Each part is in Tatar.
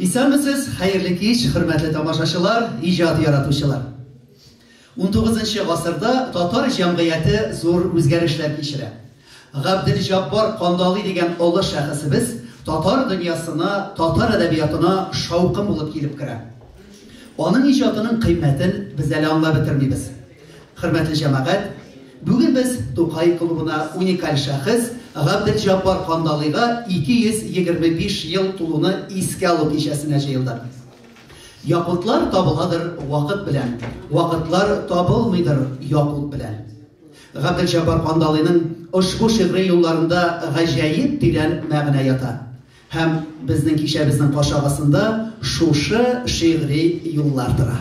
Исәнмесез, хәерле кич, хөрмәтле тамашачылар, иҗат яратучылар! Унтугызынчы гасырда татар җәмгыяте зур үзгәрешләр кичерә. Габделҗаббар Кандалый дигән олы шәхесебез татар дөньясына, татар әдәбиятына шаукым булып килеп керә. Аның иҗатының кыйммәтен без әле аңлап бетермибез. Хөрмәтле җәмәгать, бүген без Тукай клубына уникаль шәхес Габделҗаббар Кандалыйга 225 ел тулуны искә алу кичәсенә җыелдык. Якутлар табыладыр вакыт белән, вакытлар табылмыйдыр якут белән. Габделҗаббар Кандалыйның ошбу шигъри юлларында гаҗәеп тирән мәгънә ята. Һәм безнең кичәбезнең каршы агасында шушы шигъри юллар тора.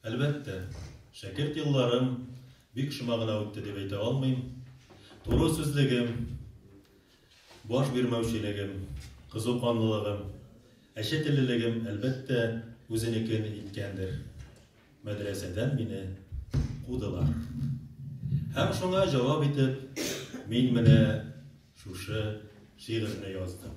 Әлбәттә, шәкерт елларым бик шома гына үтте дип әйтә алмыйм. Туры сүзлегем, баш бирмәүчелегем, кызу канлылыгым, әче теллелегем, әлбәттә, үзенекен иткәндер. Мәдрәсәдән мине кудылар. Һәм шуңа җавап итеп, мин менә шушы шигырьне яздым.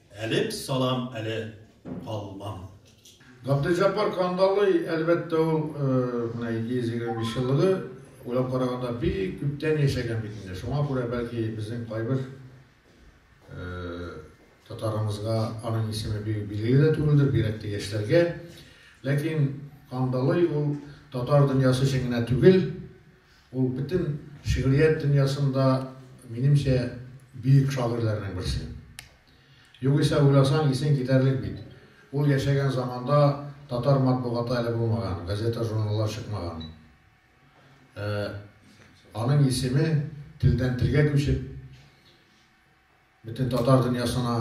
Әлеп салам әле калмам. Габделҗәббар Кандалый, әлбәттә, ул менә 725 еллыгы, уйлап караганда, бик күптән яшәгән бит инде. Шуңа күрә, бәлки, безнең кайбер татарымызга аның исеме бик билгеле дә түгелдер, бигрәк тә яшьләргә. Ләкин Кандалый ул татар дөньясы өчен генә түгел, Ул бөтен шигърият дөньясында, минемчә, бөек шагыйрьләрнең берсе. Югыйсә уйласаң, исең китәрлек бит. Ул яшәгән заманда татар матбугаты әле булмаган, газета-журналлар чыкмаган. Ә аның исеме телдән-телгә күчеп, Бөтен татар дөньясына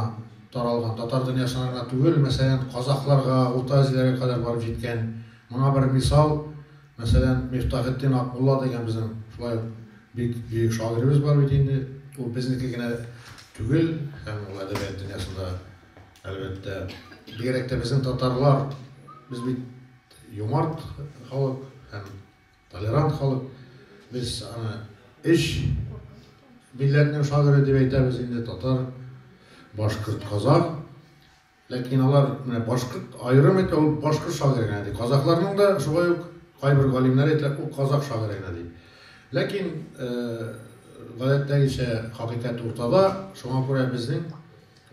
таралган, татар дөньясына гына түгел, мәсәлән, казакъларга, Урта Азиягә кадәр барып җиткән. Моңа бер мисал, мәсәлән, Мифтахетдин Акмулла дигән безнең шулай ук бик бөек шагыйребез бар бит инде. Ул безнеке генә түгел, һәм ул әдәбият дөньясында, әлбәттә, бигрәк тә безнең татарлар, без бит юмарт халык һәм Толерант халык без аны өч милләтнең шагыйре дип әйтәбез инде, татар, башкорт, казах. Ләкин алар менә башкорт аерым әйтә, ул башкорт шагыйре генә ди. Казахларның да шулай ук кайбер галимнәр әйтәләр, ул казах шагыйре генә ди. Ләкин гадәттәгечә хакыйкать уртада, шуңа күрә безнең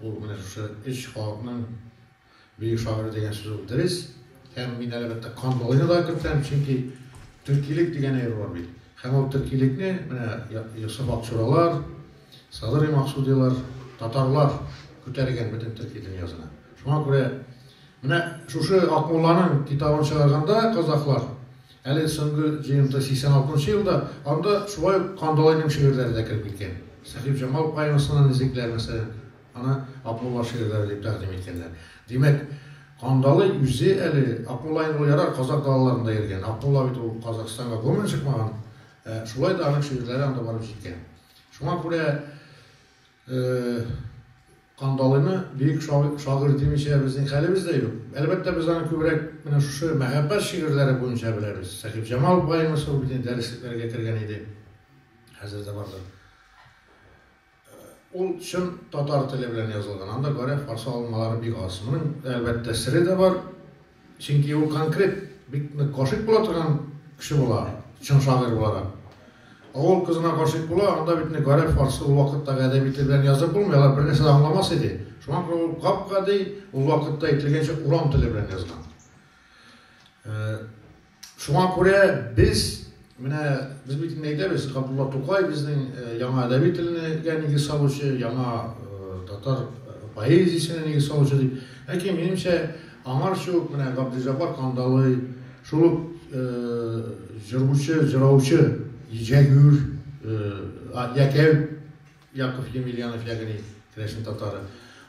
ул менә шушы өч халыкның Бөек шагыйрь дигән сүз ул дөрес. Һәм мин әлбәттә Кан Болыйны да кертәм, чөнки төркилек дигән әйбер бар бит. Һәм ул төркилекне менә Йосыф Акчуралар, Садырый Максудилар, татарлар күтәргән бөтен төрки дөньясына. Шуңа күрә менә шушы Акмулланың китабын чыгарганда казахлар, әле соңгы җыентык 86 нчы елда, анда шулай ук Кан Болыйның шигырьләре дә кереп киткән. Сәхибҗамал поэмасына низекләр мәсәлән. Аны Акмулла шигырьләре дип тәкъдим иткәннәр. Димәк, Кандалый үзе әле Акмулла инде ул ярар казакъ далаларында йөргән, Акмулла бит ул Казакъстанга гомумән чыкмаган, ә шулай да аның шигырьләре анда барып җиткән. Шуңа күрә Кандалыйны бөек шагыйрь димичә безнең хәлебез дә юк. Әлбәттә, без аны күбрәк менә шушы мәхәббәт шигырьләре буенча беләбез. Сәхибҗамал баемысыз ул бит инде дәреслекләргә кергән иде, хәзер дә бардыр. Ул чын татар теле белән язылган. Анда гореф каршы алынмалары бик аз. Моның, әлбәттә, сере дә бар. Чөнки ул конкрет бик нык гашыйк була торган кеше була, чын шагыйрь буларак. Авыл кызына гашыйк була, анда бит инде гореф каршы ул вакыттагы әдәби тел белән язып булмый, алар бернәрсә дә аңламас иде. Шуңа күрә ул гап-гади, ул вакытта әйтелгәнчә, урам теле белән язган. Шуңа күрә без, менә без бит инде әйтәбез, Габдулла Тукай безнең яңа әдәби телнегә нигез салучы, яңа татар поэзиясенә нигез салучы дип. Ләкин, минемчә, аңарчы ук менә Габделҗаббар Кандалый, шул ук җыручы, җыраучы Җәгүр, Якәү, Яков Емельянов ягъни керәшен татары.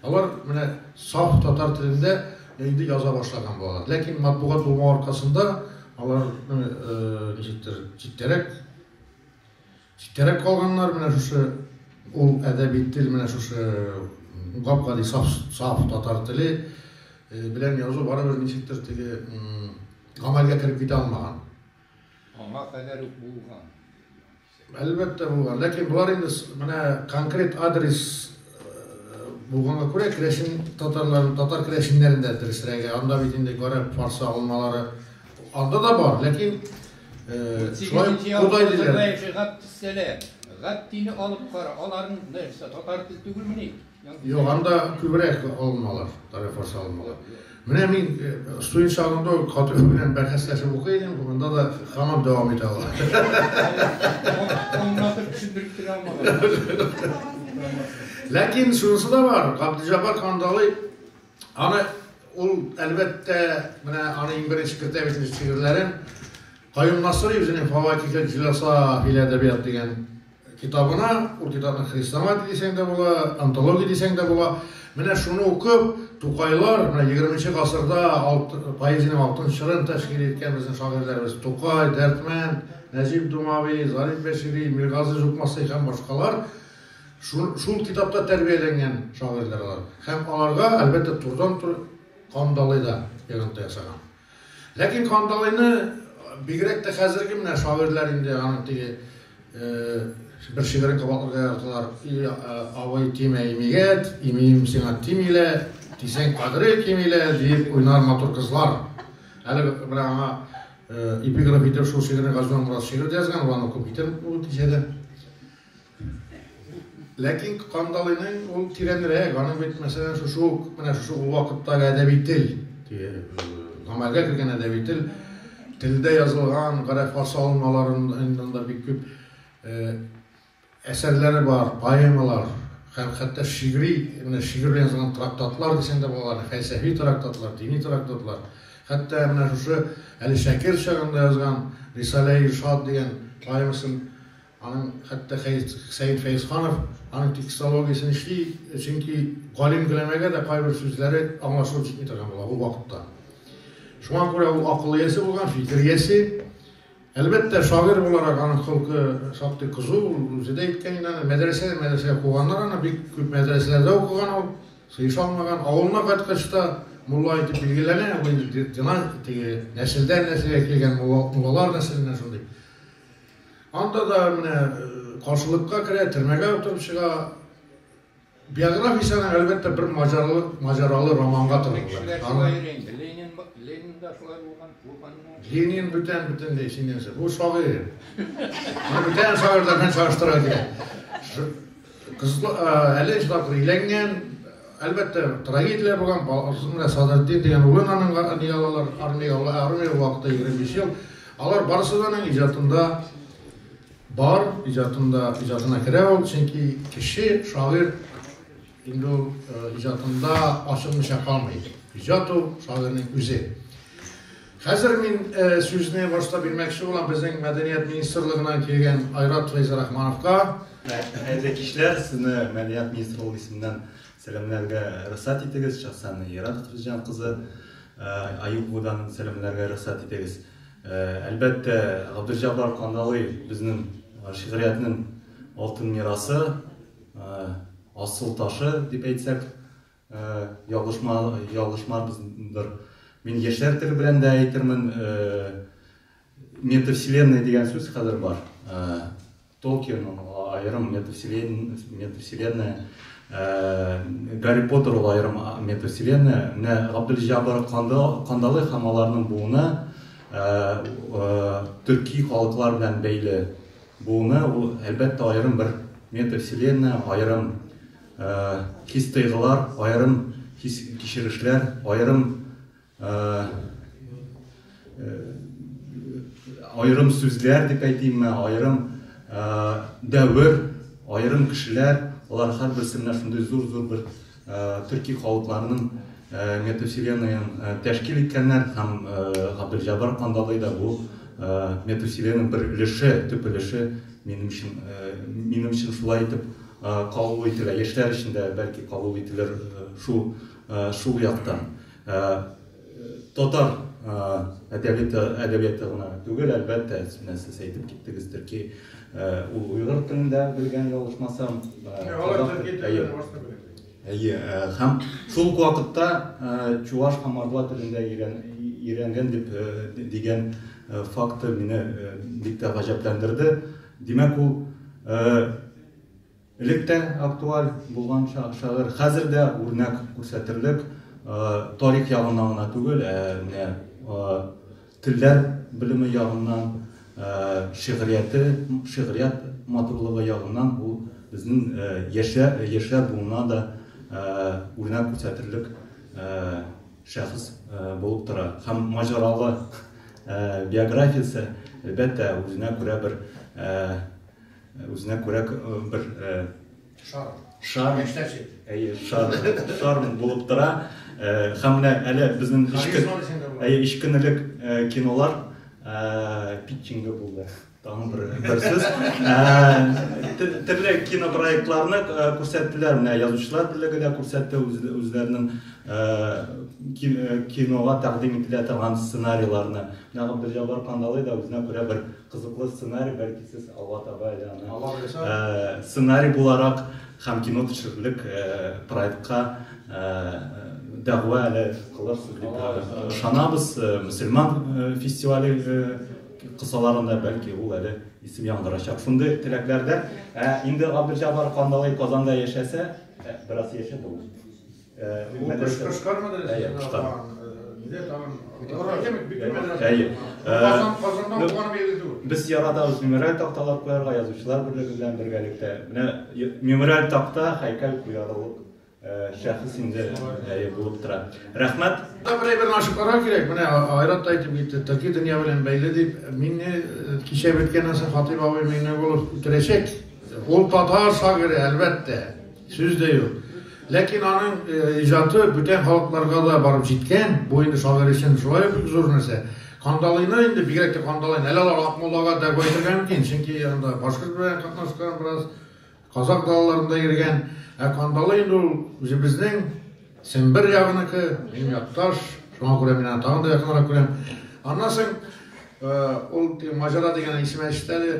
Алар менә саф татар телендә инде яза башлаган булалар. Ләкин матбугат булмау аркасында алар ничектер читтәрәк читтәрәк калганнар. Менә шушы ул әдәби тел менә шушы гап-гади саф, саф татар теле белән язу барыбер ничектер теге гамәлгә кереп китә алмаган. Аңа кадәр үк булган. Әлбәттә булган, ләкин болар инде менә конкрет адрес булганга күрә, керәшен татарларын, татар керәшеннәрен дә дөресрәге, анда бит инде гарәп, фарсы алынмалары анда да бар, ләкин шулай кудай диләр. Гаттине алып кара, аларның нәрсә татар тел түгелмени? Елганда күбрәк алыналар, тарифасы алыналар. Менә мин студент чагымда Катыш белән бәхәсләшеп укый идем, монда да һаман дәвам итә ала. Аңлатып төшендереп тә алмадым. Ләкин шунысы да бар, Габдиҗаббар Кандалый аны ул әлбәттә менә аны иң беренче кертә бит шигырьләрен Каюм Насыйри үзенең Фаватихел җиласа фил әдәбият дигән Китабына, ул китапны хрестоматия дисәң дә була, антология дисәң дә була. Менә шуны укып, Тукайлар, менә егерменче гасырда поэзиянең алтын чорын тәшкил иткән безнең шагыйрьләребез Тукай, Дәрдмәнд, Нәҗип Думави, Зариф Бәшири, Миргазыйз Укмасый һәм башкалар шул китапта тәрбияләнгән шагыйрьләр алар. Һәм аларга, әлбәттә, турыдан-туры кандалый да йогынты ясаган. Ләкин Кандалыйны бигрәк тә хәзерге менә шагыйрьләр инде аның теге бер шигырен кабатларга яраталар. И абый тимә имигәт, имием сиңа тимилә, тисәң кадере кимилә, диеп уйнар матур кызлар. Әле менә аңа эпиграф итеп шул шигырьне Газизман Мурат шигырь дә язган, ул аны укып китәр ул кичәдә. Ләкин Кандалыйның ул тирәнрәк, аның бит, мәсәлән, шушы ук, менә шушы ул вакыттагы әдәби тел, гамәлгә кергән әдәби тел, телдә язылган гарәфа салымаларыннан бик күп әсәрләре бар, поэмалар, һәм хәтта шигъри, менә шигырь белән язылган трактатлар дисәң дә була, фәлсәфи трактатлар, дини трактатлар. Хәтта менә шушы әле шәкерт чагында язган Рисалә-и-Иршад дигән поэмасын Аның хәтта Хәсәен Фәезханов аның текстологиясен эшли, чөнки галим гөләмәгә дә кайбер сүзләре аңлашылып җитми торган була ул вакытта. Шуңа күрә ул акыл иясе булган, фикер иясе. Әлбәттә, шагыйрь буларак аның холкы шактый кызу, ул үзе дә әйткән иде аны, мәдрәсәдән мәдрәсәгә куганнар аны, бик күп мәдрәсәләрдә укыган ул, сыеша алмаган. Авылына кайткач та мулла итеп билгеләнә, бу инде династия, теге нәселдән нәселгә килгән муллалар нәселеннән шундый. Анда да менә каршылыкка керә, төрмәгә утырып чыга. Биографиясенә, әлбәттә, бер маҗаралы, маҗаралы романга тыргылган. Ленин, Ленин да шулай булган, булганмы? Ленин бүтән бөтенләй синнән сәр. Бу шагыйрь. Моны бүтән шагыйрьләр белән чагыштырырга кирәк. Кызлар әле чыдап өйләнгән, әлбәттә, трагедияләр булган, менә Садретдин дигән улын аның ания алалар, армия ала, армия вакыты 25 ел. Алар барысы да аның иҗатында бар, иҗатында, иҗатына керә ул, чөнки кеше, шагыйрь инде ул иҗатында ачылмыйча калмый. Иҗат ул шагыйрьнең үзе. Хәзер мин сүзне башта бирмәкче булам безнең мәдәният министрлыгыннан килгән Айрат Фәйзрахмановка. Хәерле кичләр, сезне мәдәният министрлыгы исеменнән сәламләргә рөхсәт итегез, шәхсән Айрат Хәтирҗан кызы Аюповадан сәламләргә рөхсәт итегез. Әлбәттә, Габделҗаббар Кандалыев безнең шигъриятнең алтын мирасы, асыл ташы дип әйтсәк Ялгышмарбыз бер. Мин яшьләр теле белән дә әйтермен, метавселенная дигән сүз хәзер бар. Толкин аерым метавселенная, Гарри Поттер ул аерым метавселенная. Менә Габделҗаббар Кандалы һәм аларның буыны, төрки халыклар белән бәйле буыны, ул әлбәттә аерым бер метавселенная, аерым Хис-тойгылар, аерым хис-кичерешләр, аерым аерым сүзләр дип әйтимме, аерым дәвер, аерым кешеләр, алар һәрберсе менә шундый зур-зур бер төрки халыкларның метавселенныен тәшкил иткәннәр һәм Габделҗәббар Кандалый да бу метавселенның бер өлеше, төп өлеше, минем өчен, минем өчен шулай итеп Кабул ителә. Яшьләр өчен дә бәлки кабул ителер шул шул яктан. Татар әдәбиты әдәбияты гына түгел, әлбәттә, менә сез әйтеп киттегез, төрки ул уйгыр телен дә белгән, ялгышмасам. Алар төрки телен дә башка белә. Әйе, һәм шул ук вакытта чуваш һәм мордва телен дә өйрән өйрәнгән дип дигән факты мине бик тә гаҗәпләндерде. Димәк, ул Элек тә актуаль булган шагыйрь, хәзер дә үрнәк күрсәтерлек, тарих ягыннан гына түгел, ә менә телләр белеме ягыннан, шигърияте, шигърият матурлыгы ягыннан бу безнең яшьләр буына да үрнәк күрсәтерлек шәхес булып тора. Һәм маҗаралы биографиясе, әлбәттә, үзенә күрә бер Үзенә күрә бер шар. Шар. Әйе, шар. Шар булып тора. Һәм менә әле безнең ишке әйе, ишкенелек кинолар питчинг булды. Тагын бер бер сүз. Төрле кинопроектларны күрсәттеләр. Менә язучылар бүлеге дә күрсәтте үзләренең кинога тәкъдим ителә торган сценарийларны. Менә Габделҗаббар Кандалый да үзенә күрә бер Кызыклы сценарий, бәлки сез алга таба әле аны Алла боерса. сценарий буларак һәм кино төшерерлек проектка дәгъва әле кылырсыз дип ышанабыз. Мөселман фестивале кысаларында бәлки ул әле исем яңгырачак. Шундый теләкләрдә. Ә инде Габделҗаббар Кандалый Казанда яшәсә, бераз яшәде ул. Без яратабыз мемориаль такталар куярга, язучылар берлеге белән бергәлектә. Менә мемориаль такта һәйкәл куярылык шәхес инде әйе булып тора. Рәхмәт. Бер әйберне ачып карау кирәк. Менә Айрат та әйтеп китте, төрки дөнья белән бәйле дип. Мине кичә беткәннән соң Хатыйп абый Миңнегулов үтерәчәк. Ул татар шагыйре, әлбәттә. Сүз дә юк. Ләкин аның иҗаты бүтән халыкларга да барып җиткән. Бу инде шагыйрь өчен шулай ук бик зур нәрсә. Кандалыйны инде, бигрәк тә Кандалыйны, әле алар Акмуллага дәгъва итәргә мөмкин, чөнки анда башкорт белән катнашкан бераз, казакъ далаларында йөргән. Ә Кандалый инде ул үзебезнең Сембер ягыныкы, минем якташ, шуңа күрә мин аны тагын да якынрак күрәм. Аннан соң ул теге Маҗара дигән исем әчте әле.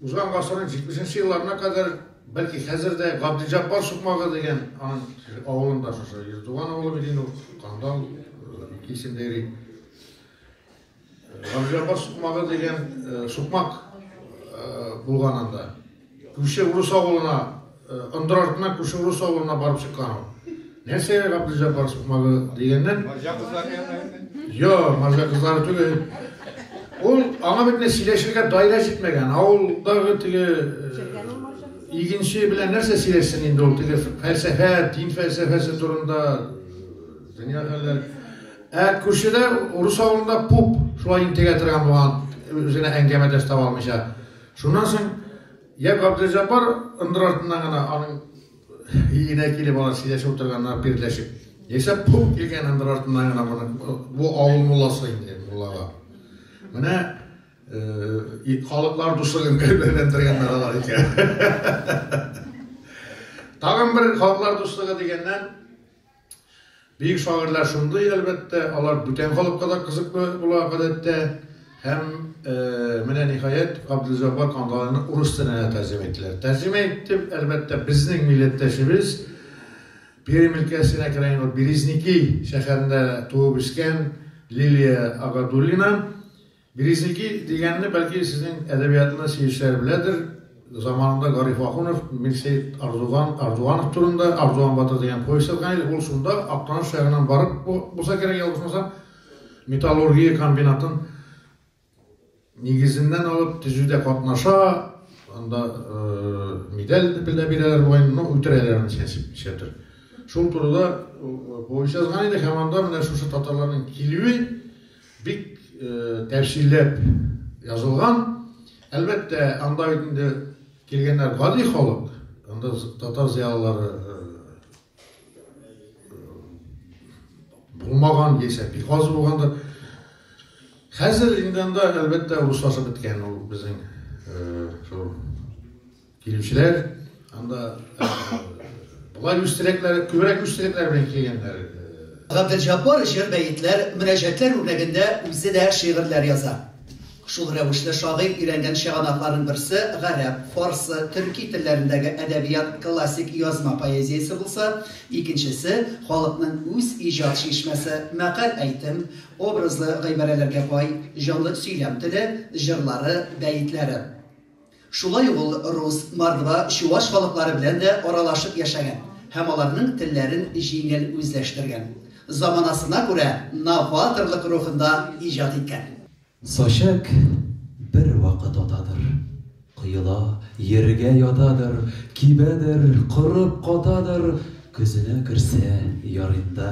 Узган гасырның җитмешенче елларына кадәр, бәлки хәзер дә Габделҗаббар сукмагы дигән аның авылында шушы Ирдуган авылы бит инде ул, Кандал исемдә йөри. Габделҗаббар сукмагы дигән сукмак булган анда. Күрше урыс авылына Ындыр артына күрше урыс авылына барып чыккан ул. Нәрсәгә Габделҗәббар сукмагы дигәннән? Марҗа кызлары янына. Йо, марҗа кызлары түгел. Ул аңа бит менә сөйләшергә даирә җитмәгән. Авылдагы теге игенче белән нәрсә сөйләшсен инде ул теге фәлсәфә, дин фәлсәфәсе турында дөнья хәлләре. Ә күршедә урыс авылында пуп шулай интегә торган булган, үзенә әңгәмәдәш таба алмыйча. Шуннан соң Йә Габделҗаббар ындыр артыннан гына аның өенә килеп алар сөйләшеп утырганнар бирләшеп. Яисә пу килгән ындыр артыннан гына моны бу авыл мулласы инде муллага. Менә э, халыклар дуслыгын кәлбәләндергәннәр алар икән. Тагын бер халыклар дуслыгы дигәннән Бөек шагыйрьләр шундый, әлбәттә, алар бүтән халыкка да кызыклы була, гадәттә. Һәм, менә, ниһаять, Габделҗаббар Кандалыйны урыс теленә тәрҗемә иттеләр. Тәрҗемә итте, әлбәттә, безнең милләттәшебез, Пермь өлкәсенә керә инде ул, Березники шәһәрендә туып-үскән Лилия Агадуллина. Березники дигәнне, бәлки, сезнең әдәбиятны сөючеләр беләдер. Заманында Гариф Ахунов Мирсәет Ардуган Ардуганов турында Ардуган батыр дигән повесть язган иде. Ул шунда Актаныш шәһәреннән барып булса кирәк, ялгышмасам, металлургия комбинатын нигезеннән алып төзүдә катнаша, анда медаль дә бирәләр бугай, но үтерәләр аны чәчеп ничәдер. Шул турыда повесть язган иде һәм анда менә шушы татарларның килүе, Бик тәфсилләп язылган. Әлбәттә, анда бит инде килгәннәр гади халык. Анда татар зыялылары булмаган яисә бик аз булгандыр. Хәзер инде анда, әлбәттә, руслашып беткән ул безнең шул Килүчеләр анда болай үз теләкләре, күбрәк үз теләкләре белән килгәннәр. Габделҗаббар җыр-бәетләр, мөнәҗәтләр үрнәгендә үзе дә шигырьләр яза. Шул рәвешле шагыйрь өйрәнгән чыганакларның берсе гарәп, фарсы, төрки телләрендәге әдәбият, классик язма поэзиясе булса, икенчесе, халыкның үз иҗат чишмәсе, мәкаль-әйтем, образлы гыйбарәләргә бай, җанлы сөйләм теле, җырлары, бәетләре. Шулай ук ул рус, мордва, чуваш халыклары белән дә аралашып яшәгән һәм аларның телләрен җиңел үзләштергән. Заманасына күрә новаторлык рухында иҗат иткән. Сачәк бер вакыт атадыр. Коела, йиргә ятадыр, кибәдер, корып катадыр, көзенә керсә, ярыйнда.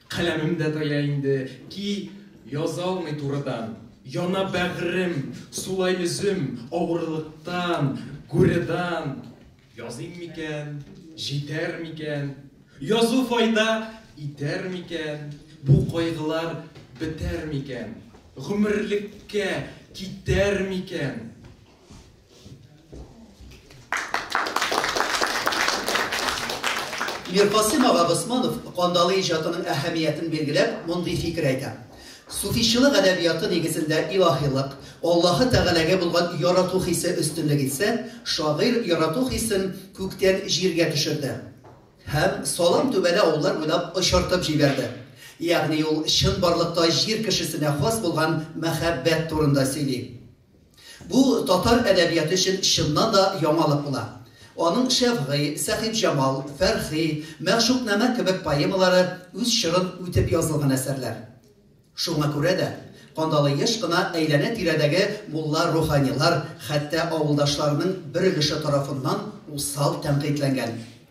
Каләмем дә тая инде, ки язалмый турыдан. Яна бәгърем, сулай өзем, авырлыктан, гуредан. Языйм микән, җитәр микән? Язу файда итәр микән? Бу кайгылар бетәр микән? Гомерлеккә китәр микән? Миркасыйм ага Госманов кандалы иҗатының әһәмиятен билгеләп, мондый фикер әйтә. Суфичылык әдәбияты нигезендә илаһилык, Аллаһы Тәгаләгә булган ярату хисе өстенлек итсә, шагыйрь ярату хисен күктән җиргә төшерде һәм салам түбәле авыллар буйлап очыртып җибәрде. Ягъни ул чынбарлыкта җир кешесенә хас булган мәхәббәт турында сөйли. Бу татар әдәбияты өчен чыннан да яңалык була. Аның Шәфгый, Сәхибҗамал, Фәрхи, Мәгъшукънамә кебек поэмалары үз чорын үтеп язылган әсәрләр. Шуңа күрә дә Кандалы еш кына әйләнә-тирәдәге мулла-руханилар, хәтта авылдашларының бер өлеше тарафыннан усал тәнкыйтьләнгән.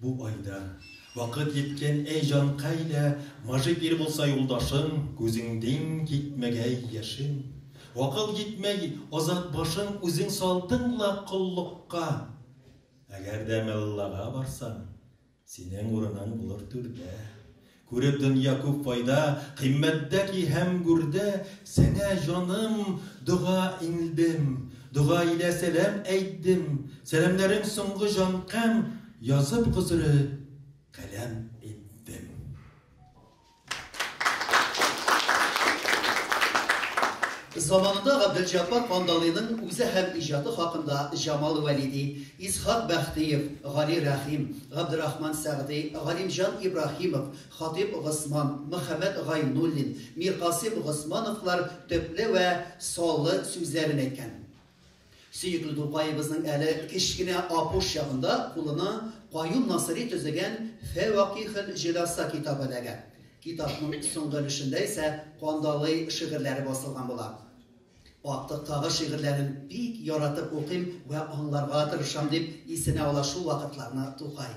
Бу айда Вакыт җиткән, әй җанкай да, Маҗик ир булса юлдашың, Күзеңдин китмәгәй яшең. Вакыт җитмәй, азат башың, Үзең салдың ла коллыкка. Әгәр дә меллага барсаң, Синең урының булыр түрдә. Күреп дөнья күп файда, Кыйммәттә ки һәм гүрдә, Сеңә, җаным, дога иңлдем, Дога илә сәлам әйтдем, Сәламнәрең соңгы җанкәм, Язып гозре каләм иттем. Заманында Габделҗаппар Кандалыйның үзе һәм иҗаты хакында Җамал Вәлиди, Исхак Бәхтиев, Гали Рәхим, Габдерахман Сәгъди, Галимҗан Ибраһимов, Хатыйп Госман, Мөхәммәт Гайнуллин, Миркасыйм Госмановлар төпле вә саллы сүзләрен әйткән. Сөекле Тукаебызның әле кечкенә апуш чагында кулына Каюм Насыйри төзегән Фәвакыйхел җөласа китабы эләгә. Китапның соңгы өлешендә исә Кандалый шигырьләре басылган була. Актыктагы шигырьләрен бик яратып укыйм вә аңларга тырышам, дип исенә ала шул вакытларны Тукай.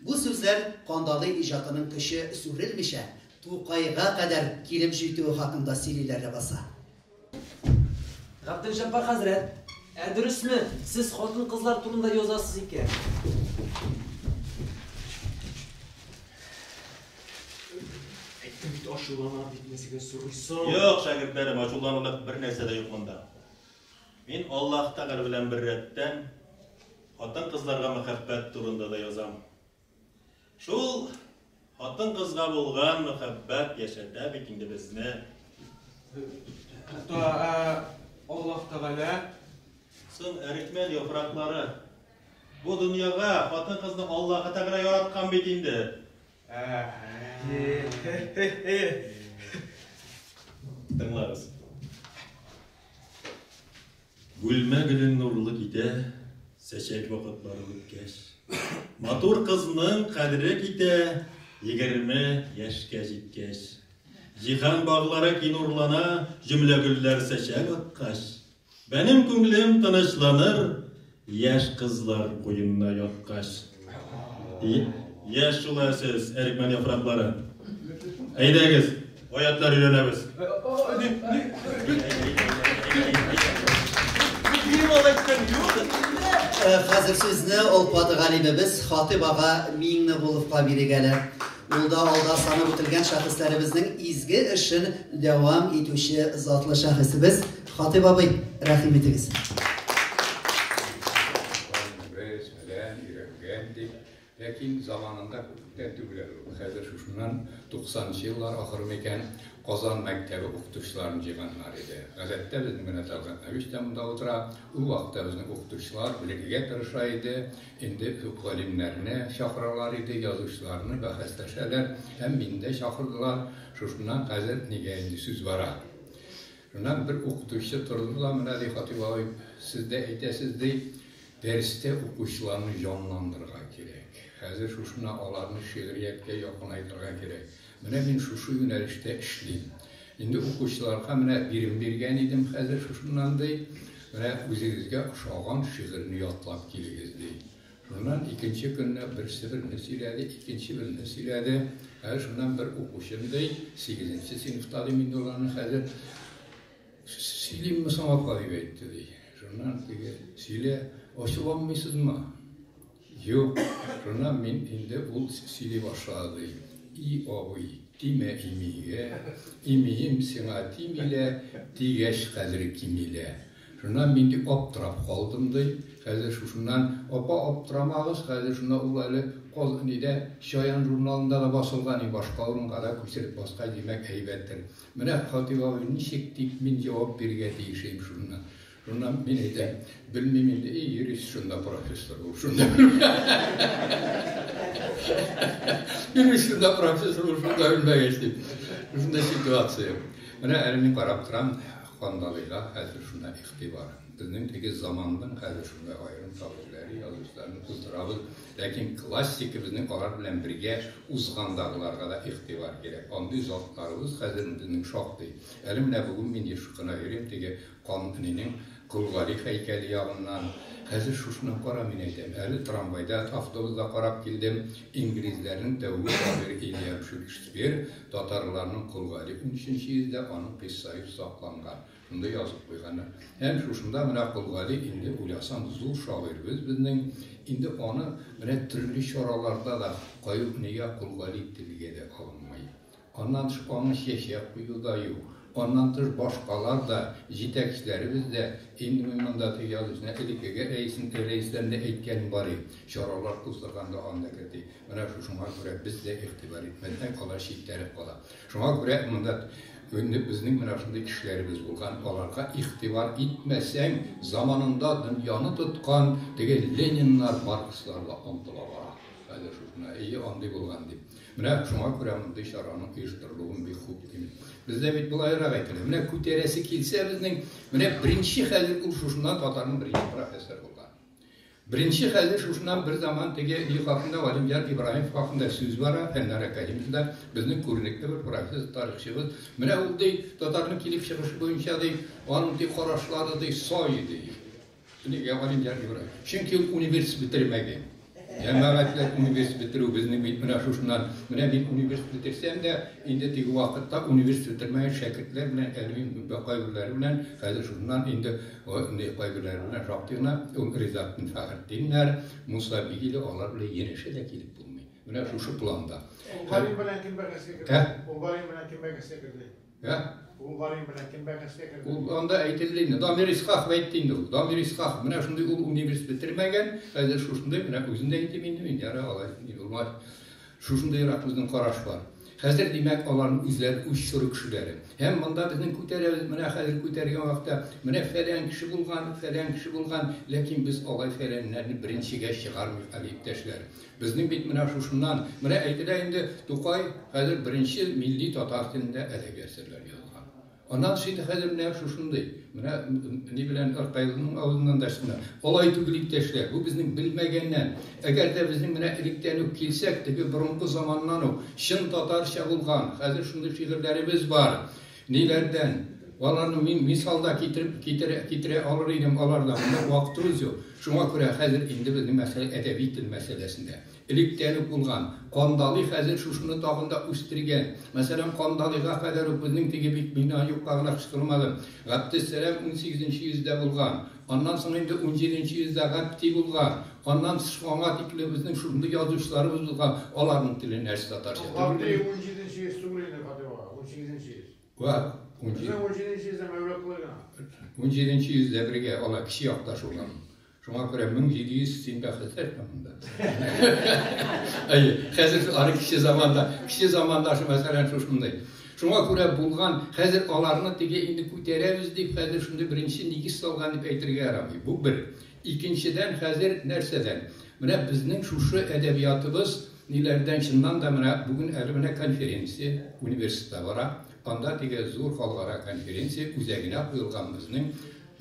Бу сүзләр Кандалый иҗатының көче сүрелмичә, Тукайга кадәр килеп җитүе хакында сөйлиләр ләбаса. Габделҗәббар хәзрәт, ә дөресме, сез хатын-кызлар турында язасыз икән? Әйтте бит ашулана дип нәсеген сорыйсың. Юк, шәкертләрем, ашуланулык бер нәрсә дә юк монда. Мин Аллаһ Тәгалә белән бер рәттән хатын-кызларга мәхәббәт турында да язам. Шул хатын-кызга булган мәхәббәт яшәтә бит инде безне. Тукта, Аллаһ Тәгалә. Соң әрекмән яфраклары Бу дөньяга хатын-кызны Аллаһы Тәгалә яраткан бит инде. Тыңлагыз. Бүлмә гөлен нурлы китә, сәчәк вакытлары үткәч. Матур кызның кадере китә, егерме яшькә җиткәч. Җиһан баглары кинурлана, җөмлә гөлләр сәчәк аткач. Бәнем күңлем тынычланыр, яшь кызлар куенына яткач. Яшь шул ә сез, әрекмән яфраклары. Әйдәгез, аятлар өйрәнәбез. Хәзер сезне ул паты галимебез Хатыйп ага Миңнегуловка бирик әле. Ул да алда санап үтелгән шәхесләребезнең изге эшен дәвам итүче затлы шәхесебез. Хатип абый, рәхим итегез. Без белән өйрәнгән дип, ләкин заманында күптән түгел әле. Хәзер шушыннан 90нчы еллар ахыры микән Казан мәктәбе укытучыларын җыйганнар иде. Гадәттә безнең менә Талгат Навич та монда утыра. Ул вакытта безнең укытучылар белергә тырыша иде. Инде күп галимнәрне чакыралар иде, язучыларны бәхәсләшәләр. Һәм мине дә чакырдылар. Шушыннан хәзер нигә инде сүз бара. Шуннан бер укытучы торды да, Менә, ди, Хатыйп абый, сез дә әйтәсез, ди, дәрестә укучыларны җанландырырга кирәк. Хәзер шушына аларны шигърияткә якынайтырга кирәк. Менә мин шушы юнәлештә эшлим. Инде укучыларга менә бирем биргән идем, хәзер шушыннан, ди, менә үзегезгә ошаган шигырьне ятлап килегез, ди. Шуннан икенче көнне берсе берне сөйләде, икенче берне сөйләде. Ә шуннан бер укучым ди, сигезенче сыйныфта ди мин ул аны хәзер. Сөйлимме соң апа дип әйтте ди. Шуннан теге сөйлә, ачуланмыйсызмы? Юк. Шуннан мин инде ул сөйли башлады. И абый, тимә имигә, имием сиңа тимилә, тигәч кадере кимилә. Шуннан мин бик аптырап калдым, ди. Хәзер шушыннан, Апа, аптырамагыз, хәзер шуннан ул әле Каз нидә, Чаян журналында да басылган и башка урынга да күчереп баскач, димәк, әйбәттер. Менә Хатыйп абый ничек дип мин җавап бирергә тиешим шуннан. Шуннан мин әйтәм, белмим инде, и юрист шунда профессор ул, шунда Юрист шунда профессор ул, шунда белмәгәч, дип. Шунда ситуация. Менә әле мин карап торам, Кандалыйга хәзер шуна игътибар. Безнең теге заманның хәзер шунда аерым шагыйрьләре, язучыларны кыздырабыз. Ләкин классика безнең алар белән бергә узгандагыларга да игътибар кирәк. Андый затларыбыз хәзер безнең шактый. Әле менә бүген мин еш кына йөрим теге Канунинең Кол Гали һәйкәле ягыннан. Хәзер шушына кара, мин әйтәм, әле трамвайда, автобуста карап килдем, инглизләрнең тәүге шагыйре Ильям Шекспир, Татарларның Колгари унөченче йөздә аның кыйссаеп сакланган, шунда язып куйганы. Һәм шушында менә Колгари инде уйласаң зур шагыйрьбез безнең, инде аны менә төрле чараларда да Каюхния Колгари телгә дә алынмый. Аннан тыш аңа чәчәк кую да юк. Аннан тыш башкалар да, җитәкчеләребез дә, инде мин монда теге язучына элеккеге рәисен рәисләрне әйткәнем бар ид, чаралар уздырганда анда керде. Менә шушыңа күрә без дә игътибар итмәсәк, алар читтәрәк кала. Шуңа күрә монда инде безнең менә шундый кешеләребез булган, аларга игътибар итмәсәң, заманында дөньяны тоткан теге Лениннар, Маркслар да онтыла бара. Хәзер шушына, әйе, андый булган дип. Менә шуңа күрә мондый чараның оештырылуын бик хуп дим. Бездә бит болайрак әйтелә. Менә күтәрәсе килсә безнең, менә беренче хәзер ул шушыннан татарның беренче профессоры булган. Беренче хәлне шушына берзаман теге өй хакында Галимҗан Ибраһимов хакында сүз бара, Фәннар академиясе дә безнең күренекле бер профессор, тарихчыбыз. Менә ул, ди, татарның килеп чыгышы буенча, ди, аның, ди, карашлары, ди, сай иде, ди. Нигә Галимҗан Ибраһимов? Чөнки ул университет бетермәгән. Җәмәгатьләр университет бетерү безнең бит менә шушыннан. Менә мин университет бетерсәм дә, инде теге вакытта университет бетермәгән шәкертләр белән, әле мин кайберләре белән хәзер шуннан инде Ниһаять, кайберләренә шактый гына риза Мин Фәхретдиннәр, Муса Бигиле, алар белән янәшә дә килеп булмый. Менә шушы планда. Ул Гарин белән кем бәхәскә керде? Ә? Ул Гарин белән кем бәхәскә керде? Ә? Ул Гарин белән кем бәхәскә керде? Ул анда әйтелде инде. Дамир Исхаков әйтте инде ул. Дамир Исхаков. Менә шундый ул университет бетермәгән. Хәзер шушындый менә үзендә әйтим инде мин. Ярар, алай. Юлмай. Шушындыйрак безнең караш бар. Хәзер, димәк, аларның үзләре үз чоры кешеләре. Һәм монда безнең күтәрәбез, менә хәзер күтәр яңакта, менә фәлән кеше булган, фәлән кеше булган, ләкин без алай фәләннәрне беренчегә чыгармыйк әле, иптәшләр. Безнең бит менә шушыннан, менә әйтелә инде, Тукай хәзер беренче милли татар телендә әдәби әсәрләр язган. Аннан сөйлә хәлемнәр шушындый. Менә ни белән Аркайлының авызыннан да чына. Алай түгел, иптәшләр, бу безнең белмәгәннән. Әгәр дә безнең менә электән үк килсәк, теге борынгы заманнан ук чын татарча булган, хәзер шундый шигырьләребез бар. Ниләрдән? Аларны мин мисал да китереп китерә китерә алыр идем, аларда монда вакытыбыз юк. Шуңа күрә хәзер инде безнең мәсьәлә әдәби тел мәсьәләсендә. Электән үк булган. Кандалый хәзер шушыны тагын да үстергән. Мәсәлән, Кандалыйга кадәр үк безнең теге бит бина юкка гына кычкырмады. Габдессәлам унсигезенче йөздә булган. Аннан соң инде унҗиденче йөздә Габди булган. Аннан тыш аңа тикле безнең шушындый язучыларыбыз булган. Аларның теле нәрсә, татарча түгелмени? Ул Габди унҗиденче йөз түгел инде, Фатыйх ага, унсигезенче йөз. Вә, унҗи. Безнең унҗиденче йөздә Мәүлаклый гына. Унҗиденче йөздә бергә алар кече якташ булган. Шуңа күрә 1700 син бәхетле монда. Әйе, хәзер ары кичә заманда, кичә заманда шул мәсәлән шушындый. Шуңа күрә булган, хәзер аларны теге инде күтәрәбез дип, хәзер шундый беренче нигез салган дип әйтергә ярамый. Бу бер. Икенчедән, хәзер нәрсәдән? Менә безнең шушы әдәбиятыбыз ниләрдән чыннан да менә бүген әле менә конференция университетта бара. Анда теге зур халыкара конференция үзәгенә куелган безнең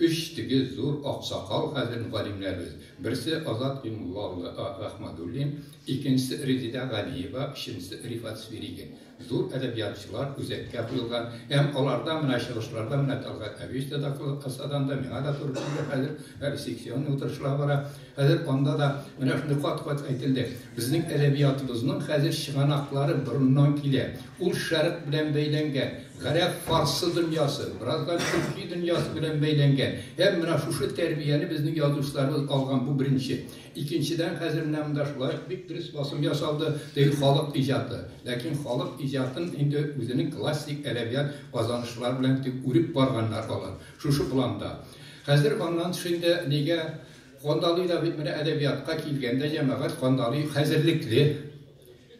Өч теге зур аксакал хәзер галимнәрбез, берсе Азат Имулла улы Рахмадуллин, икенчесе Резидә Галиева, өченчесе Рифат Свиригин. Зур әдәбиятчылар үзәккә куелган һәм аларда менә чыгышларда менә Тәлгать Әбич тә докладласа анда, миңа да туры килде хәзер, әле секционный утырышлар бара, хәзер анда да менә шундый кат-кат әйтелде. Безнең әдәбиятыбызның хәзер чыганаклары борыннан килә. Ул Шәрык белән бәйләнгән. Гарәп, фарсы дөньясы, бераздан төрки дөньясы белән бәйләнгән. Һәм менә шушы тәрбияне безнең язучыларыбыз алган, бу беренче. Икенчедән, хәзер менә монда шулай ук бик дөрес басым ясалды, теге халык иҗаты. Ләкин халык иҗатын инде үзенең классик әдәбият казанышлары белән дип үреп барганнар алар. Шушы планда. Хәзер аннан тыш инде нигә Кандалый да бит менә әдәбиятка килгәндә җәмәгать Кандалый хәзерлекле.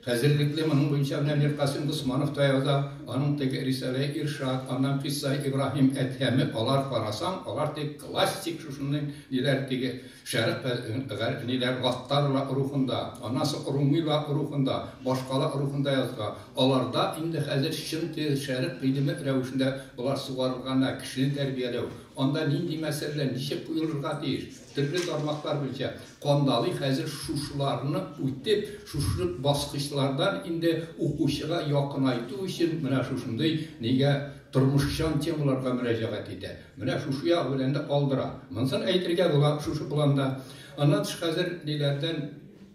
Хәзерлекле моның буенча менә Миркасыйм Госманов таяуда, аның теге рисаләе Иршат, аннан кыйсса Ибраһим Әдһәме, алар карасаң, алар теге классик шушындый ниләр теге шәрык гәрәп ниләр гаттарлар рухында, аннан соң румыйлар рухында, башкалар рухында язга. Аларда инде хәзер чын теге шәрык гыйлеме рәвешендә болар сугарылган да, кешене тәрбияләү. Анда нинди мәсьәләләр ничек куелырга тиеш? Төрле тармаклар буенча кандалый хәзер шушыларны үтеп, шушы баскычлардан инде укучыга якынайту өчен менә шушындый нигә тормышчан темаларга мөрәҗәгать итә. Менә шушы ягы белән дә калдыра. Монысын әйтергә була шушы планда. Аннан тыш хәзер ниләрдән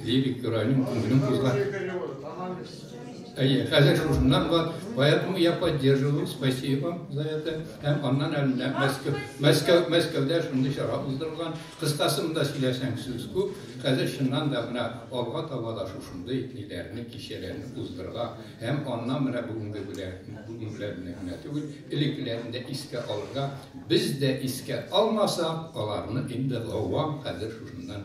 Лирик героиның күңелен кузгар. Әйе, хәзер шушыннан бар. Поэтому я поддерживаю, спасибо за это. Һәм аннан әле Мәскәү, Мәскәү, Мәскәүдә шундый чара уздырылган. Кыскасы монда сөйләсәң сүз күп. Хәзер чыннан да менә алга таба да шушындый ниләрне, кичәләрне уздырырга. Һәм аннан менә бүгенге белән, бүген белән генә түгел, элеккеләрне дә искә алырга. Без дә искә алмасак, аларны инде гавам хәзер шушыннан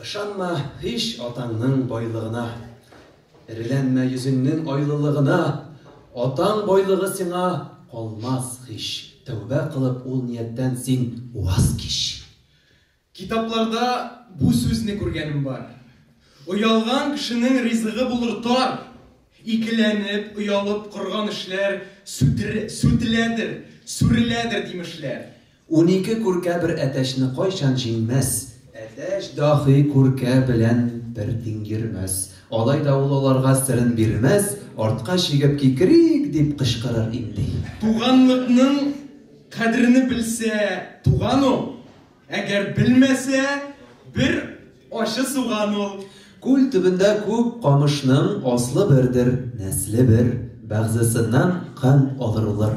Ышанма һич атаңның байлыгына, Эреләнмә йөзеңнең айлылыгына, Атаң байлыгы сиңа калмас һич, Тәүбә кылып ул нияттән син ваз кич. Китапларда бу сүзне күргәнем бар. Оялган кешенең ризыгы булыр тар. Икеләнеп, оялып корган эшләр сүтеләдер, сүреләдер димешләр. Унике күркә бер әтәчне кайчан җиңмәс? Әтәч даһи күркә белән бер тиң йөрмәс. Алай да ул аларга серен бирмәс, артка чигеп кикрик дип кычкырыр инде. Туганлыкның кадерне белсә, туган ул, әгәр белмәсә, бер ачы суган ул. Күл төбендә күп камышның аслы бердер, нәсле бер, бәгъзесеннән кан алырылыр.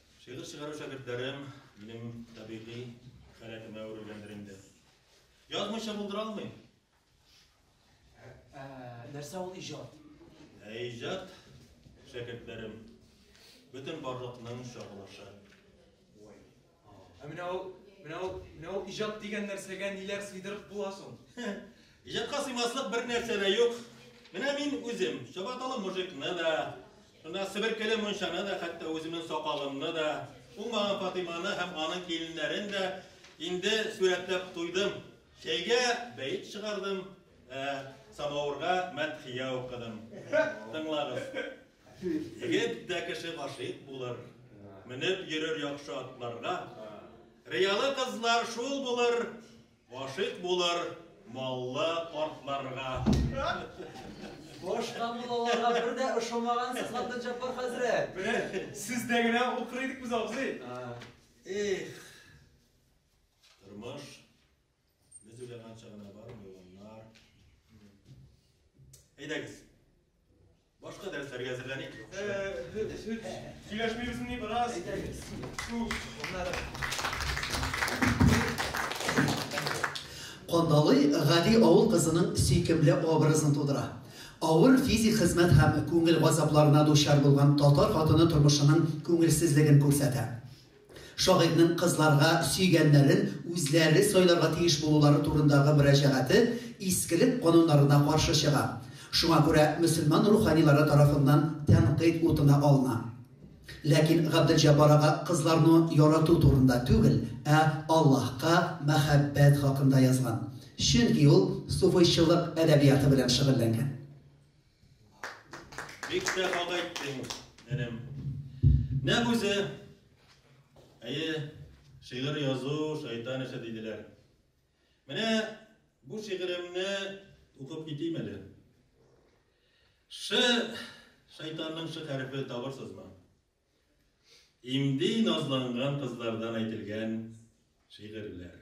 Шигырь чыгару шәкертләрем минем табигый халәтемә әверелгәндер инде. Язмыйча булдыра алмыйм. Ә, нәрсә ул иҗат? Ә иҗат шәкертләрем бөтен барлыкның чагылышы. Ой. Ә менә ул, менә ул, менә ул иҗат дигән нәрсәгә ниләр сыйдырып була соң? Иҗатка сыймаслык бер нәрсә дә юк. Менә мин үзем, чабаталы мужикны да, Шунда себеркеле мунчаны да, хәтта үземнең сакалымны да, уңмаган Фатыйманы һәм аның киленнәрен дә инде сурәтләп туйдым. Чәйгә бәйт чыгардым, ә, самавырга мәдхия укыдым. Тыңлагыз. Егет тә кеше гашыйк булыр, менеп йөрер яхшы атларга. Риялы кызлар шул булыр, Гашыйк булыр маллы картларга. Башка муллаларга бер дә ошамагансыз, Габделҗаппар хәзрәт. Менә сездә генә укыр идек без, абзый. Эх. Тормыш без уйлаганча гына бармый, уллар. Әйдәгез. Башка дәресләргә әзерләник. Сөйләшмибезмени бераз? Әйтәбез. Кандалый гади авыл кызының сөйкемле образын тудыра. Авыр физик хезмәт һәм күңел газапларына дучар булган татар хатыны тормышының күңелсезлеген күрсәтә. Шагыйрьнең кызларга сөйгәннәрен үзләре сайларга тиеш булулары турындагы мөрәҗәгате искелек кануннарына каршы чыга, шуңа күрә мөселман руханилары тарафыннан тәнкыйть утына алына. Ләкин Габделҗәббар ага кызларну ярату турында түгел, ә Аллаһка мәхәббәт хакында язган, чөнки ул суфыйчылык әдәбияты белән шөгыльләнгән. Бик тә хак әйттең, энем. Нәкъ үзе. Әйе, шигырь язу шайтан эше диделәр. Менә бу шигыремне укып китим әле. Ш шайтанның ш хәрефе табырсызмы? Имди назланган кызлардан әйтелгән шигырьләр.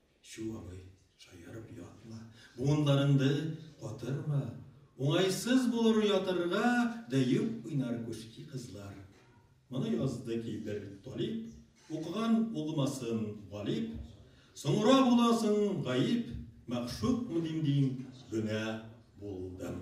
Чү, абый, шаярып ятма. Буынларыңды катырма. Уңайсыз булыр ятырга да юк уйнар күшки кызлар. Моны язды ки бер талип, укыган улмасын галип, соңра буласын гаип, мәгъшукмы дим дим, гөнаһ булдым.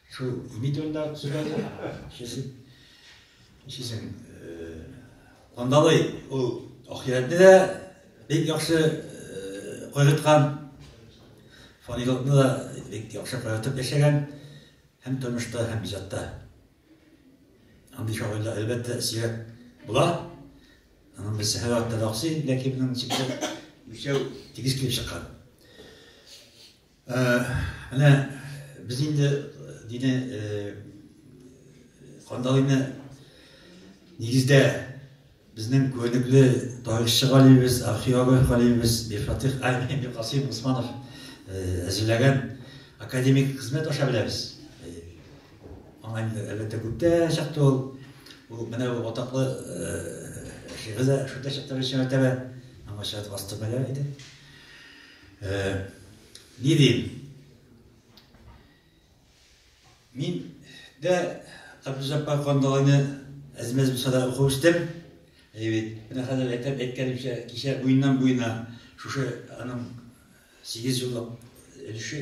Шул медальләр төзеләде. Шешеп, шешем, кандалы ул ахирәтне дә бик яхшы кайгырткан, фанилыкны да бик яхшы кайгыртып яшәгән, һәм тормышта, һәм иҗатта. Андый шагыйрьләр, әлбәттә, сирәк була. Аның берсе Һәвәт Таракси, ләкин аның чикле өчәү тигез килеп чыккан. Менә без инде дине Кандалыйны нигездә безнең күнекле тарихчы галимебез, археолог галимебез Бифатих Аймин Касыйм Усманов әзерләгән академик хезмәт аша беләбез. Аңа инде әлбәттә күптә чыкты ул. Ул менә ул атаклы шигырьдә шунда чыкты Рәшәмәтәбә. Аңа шәт вастык белә иде. Э, ни дим? Мин дә Абдужаппар Кандалайны әзмәз булсада укып үстем. Әйбит. Менә хәзер әйтеп әйткәнемчә, кичә буеннан буена шушы аның 8 еллык өлеше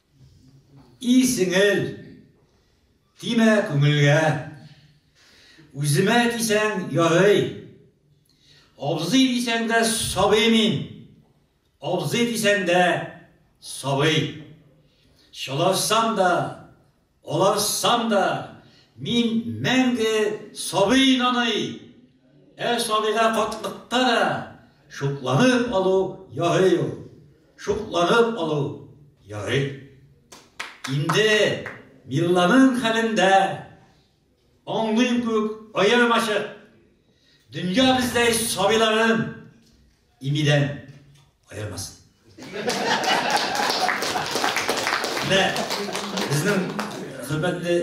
И сеңел, тимә күңелгә. Үземә дисәң ярый. Абзый дисәң дә сабый мин. Абзый дисәң дә сабый. Шалашсам да Аларсан да мин мәңге сабый наный, ә сабыйга катлыкта да шукланып алу ярый ул. Шукланып алу ярый. Инде Милланың хәлендә аңлыйм күк аермачык. Дөнья бездәй сабыйларын Имидән аермасын. Менә безнең хөрмәтле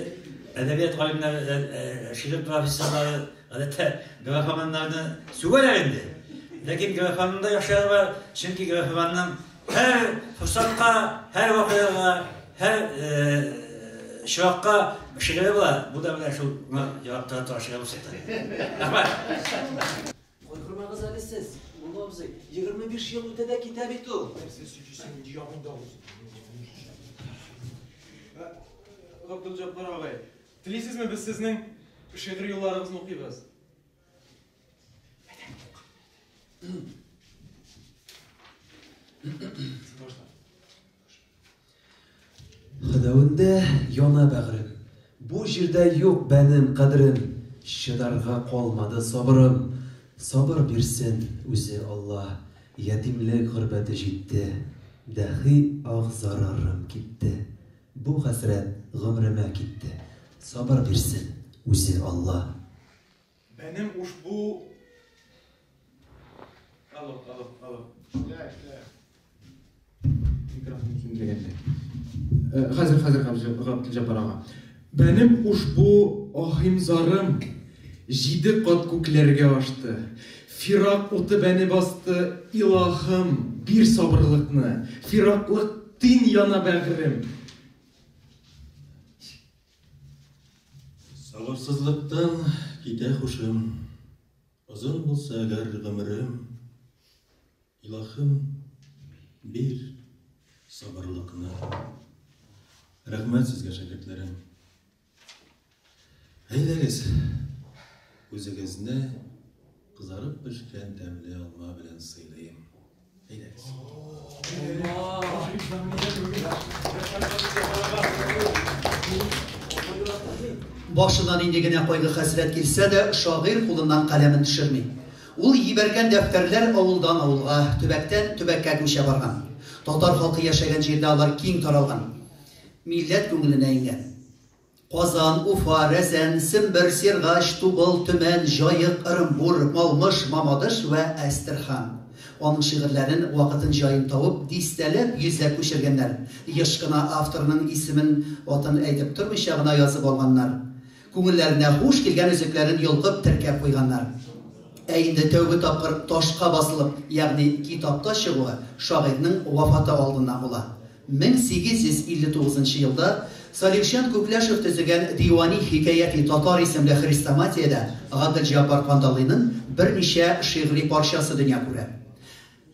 әдәбият галимнәре, э, э, шигырь профессорлары, гадәттә графоманнарны сүгәләр инде. Ләкин графоманның да яхшылары бар, чөнки графоманның һәр форсатка, һәр вакыйгага, һәр э, чиракка шигыре була. Бу да менә шул ярактан тора шигырь булса. Рәхмәт. Кайгырмагыз әле сез, Улы абзый, егерме биш ел үтә дә китә бит ул. Габдулҗаббар агай, телисезме без сезнең шигъри юлларыгызны укыйбыз? Хәдәвендә яна бәгърем. Бу җирдә юк бәнем, кадрем, Чыдарга калмады сабырым. Сабыр бирсен үзе Алла. Ятимлек горбәте җитте. Дәхи ах зарарым китте. Бу хәсрәт гомремә китте. Сабыр бирсен үзе Алла. Бәнем ушбу... Алло, алло, алло. Шля, шля. Микрофон ким дегенде. Хәзер, хәзер, хәзер, Габдул Җаббар ага. Бәнем ушбу ахим зарым җиде кат күкләргә ашты. Фирак уты бәне басты, илахым, бир сабырлыкны. Фираклык тин яна бәгырем. Сабырсызлыктан китә хушым, Озын булса әгәр гомерем, Илаһым, бир сабырлыкны. Рәхмәт сезгә, шәкертләрем. Әйдәгез, үзегезне Кызарып пешкән тәмле алма белән сыйлыйм. Әйдәгез. Башына нинди генә кайгы-хәсрәт килсә дә, шагыйрь кулыннан каләмен төшерми. Ул җибәргән дәфтәрләр авылдан авылга, төбәктән төбәккә күчә барган. Татар халкы яшәгән җирдә алар киң таралган. Милләт күңеленә иңгән. Казан, Уфа, Рәзән, Сембер, Сергач, Тубыл, Төмән, Җаек, Ырымбур, Малмыж, Мамадыш вә Әстерхан. Аның шигырьләрен вакытын-җаен тавып, дистәләп, йөзләп күчергәннәр. Еш кына авторның исемен, атын әйтеп тормыйча гына язып алганнар. Күңелләренә хуш килгән өзекләрен йолкып, теркәп куйганнар. Ә инде тәүге тапкыр ташка басылып, ягъни китапта чыгуы шагыйрьнең вафаты алдыннан була. 1859 нчы елда Салихҗан Күкләшев төзегән Дивани хикәяти татар исемле хрестоматиядә Гаделҗаббар Кандалыйның берничә шигъри парчасы дөнья күрә.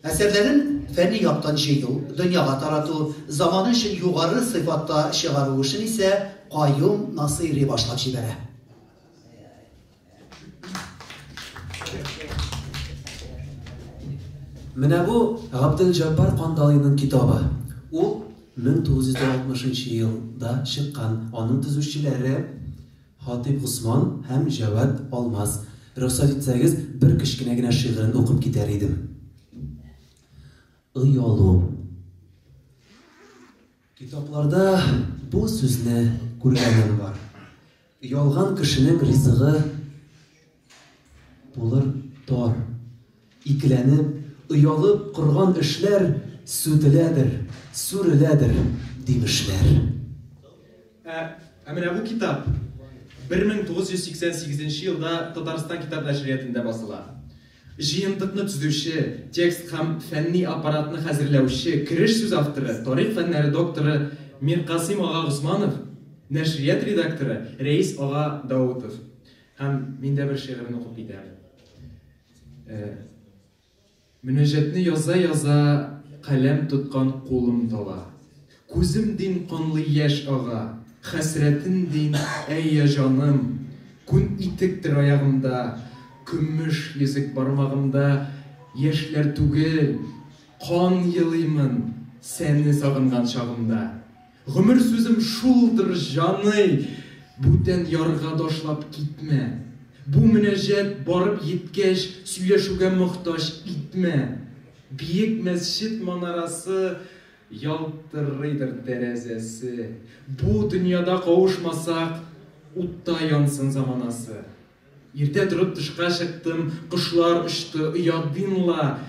Әсәрләрен фәнни яктан җыю, дөньяга тарату, заманы өчен югары сыйфатта чыгару эшен исә Каюм Насыйри башлап җибәрә. Менә бу Габделҗаббар Кандалиның китабы. Ул 1960 елда чыккан. Аның төзүчеләре Хатип Госман һәм Җавад Алмаз. Рөхсәт итсәгез, бер кечкенә генә шигырен укып китәр идем. Оялу. Китапларда бу сүзне күргәнем бар. Оялган кешенең ризыгы булыр тар. Икеләнеп, оялып корган эшләр сүтеләдер, сүреләдер, димешләр. Ә, ә менә бу китап 1988 елда Татарстан китап нәшриятендә басыла. Җыентыкны төзүче, текст һәм фәнни аппаратны хәзерләүче, кереш сүз авторы, тарих фәннәре докторы Миркасыйм ага Госманов, нәшрият редакторы Рәис ага Даутов һәм мин дә бер шигырен укып китәм. Мөнәҗәтне яза-яза каләм тоткан кулым тала. Күзем дин канлы яшь ага, Хәсрәтем дин, әй я җаным, Күн итектер аягымда, Көмеш йөзек бармагымда, Яшьләр түгел, кан елыймын Сәне сагынган чагымда. Гомер сүзем шулдыр, җаный, Бүтән ярга ташлап китмә. Бу мөнәҗәт барып йиткәч, Сөйләшүгә мохтаҗ итмә. Биек мәсҗид манарасы Ялтырыйдыр тәрәзәсе. Бу дөньяда кавышмасак, Утта янсын заманасы. Иртә торып тышка чыктым, Кошлар очты, оядыйм ла.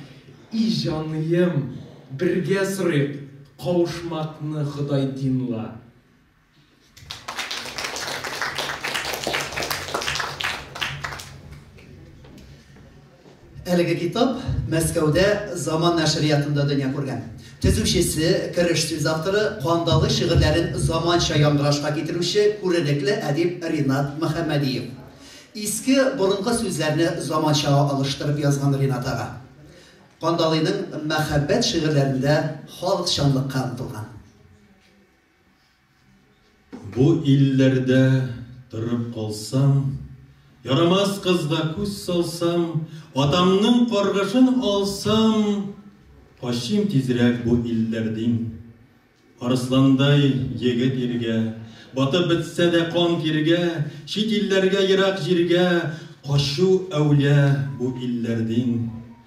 И җаныем, бергә сорыйк, Кавышмакны Ходай дин ла. Әлеге китап Мәскәүдә Заман нәшриятында дөнья күргән. Төзүчесе, кереш сүз авторы, кандалы шигырьләрен заманча яңгырашка китерүче күренекле әдип Ринат Мөхәммәдиев. Иске, борынгы сүзләрне заманчага алыштырып язган Ринат ага. Кандалыйның мәхәббәт шигырьләрендә халыкчанлыкка омтылган. Бу илләрдә торып калсам, Ярамас кызга күз салсам, Атамның каргышын алсам, Качыйм тизрәк бу илләрдин. Арысландай егет иргә, Батып бетсә дә кан тиргә, Чит илләргә, ерак җиргә Качу әүлә бу илләрдин.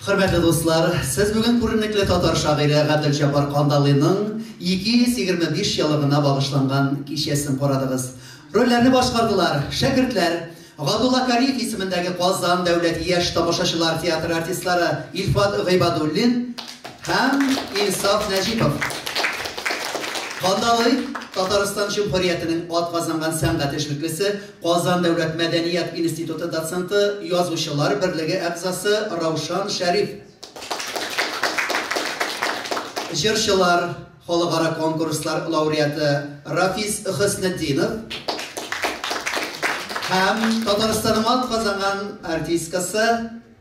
Хөрмәтле дуслар, сез бүген күренекле татар шагыйре Гадел Җабар Кандалыйның 225 еллыгына багышланган кичәсен карадыгыз. Рольләрне башкардылар шәкертләр, Гадулла Кариев исемендәге Казан дәүләт яшь тамашачылар театры артистлары Илфат Гыйбадуллин һәм Инсаф Нәҗипов. Кандалый Татарстан Җөмһүриятенең атказанган сәнгать эшлеклесе Казан дәүләт мәдәният институты доценты, язучылар берлеге әгъзасы Раушан Шәриф, җырчылар, халыкара конкурслар лауреаты Рафис Хөснетдинов һәм Татарстанның атказанган артисткасы,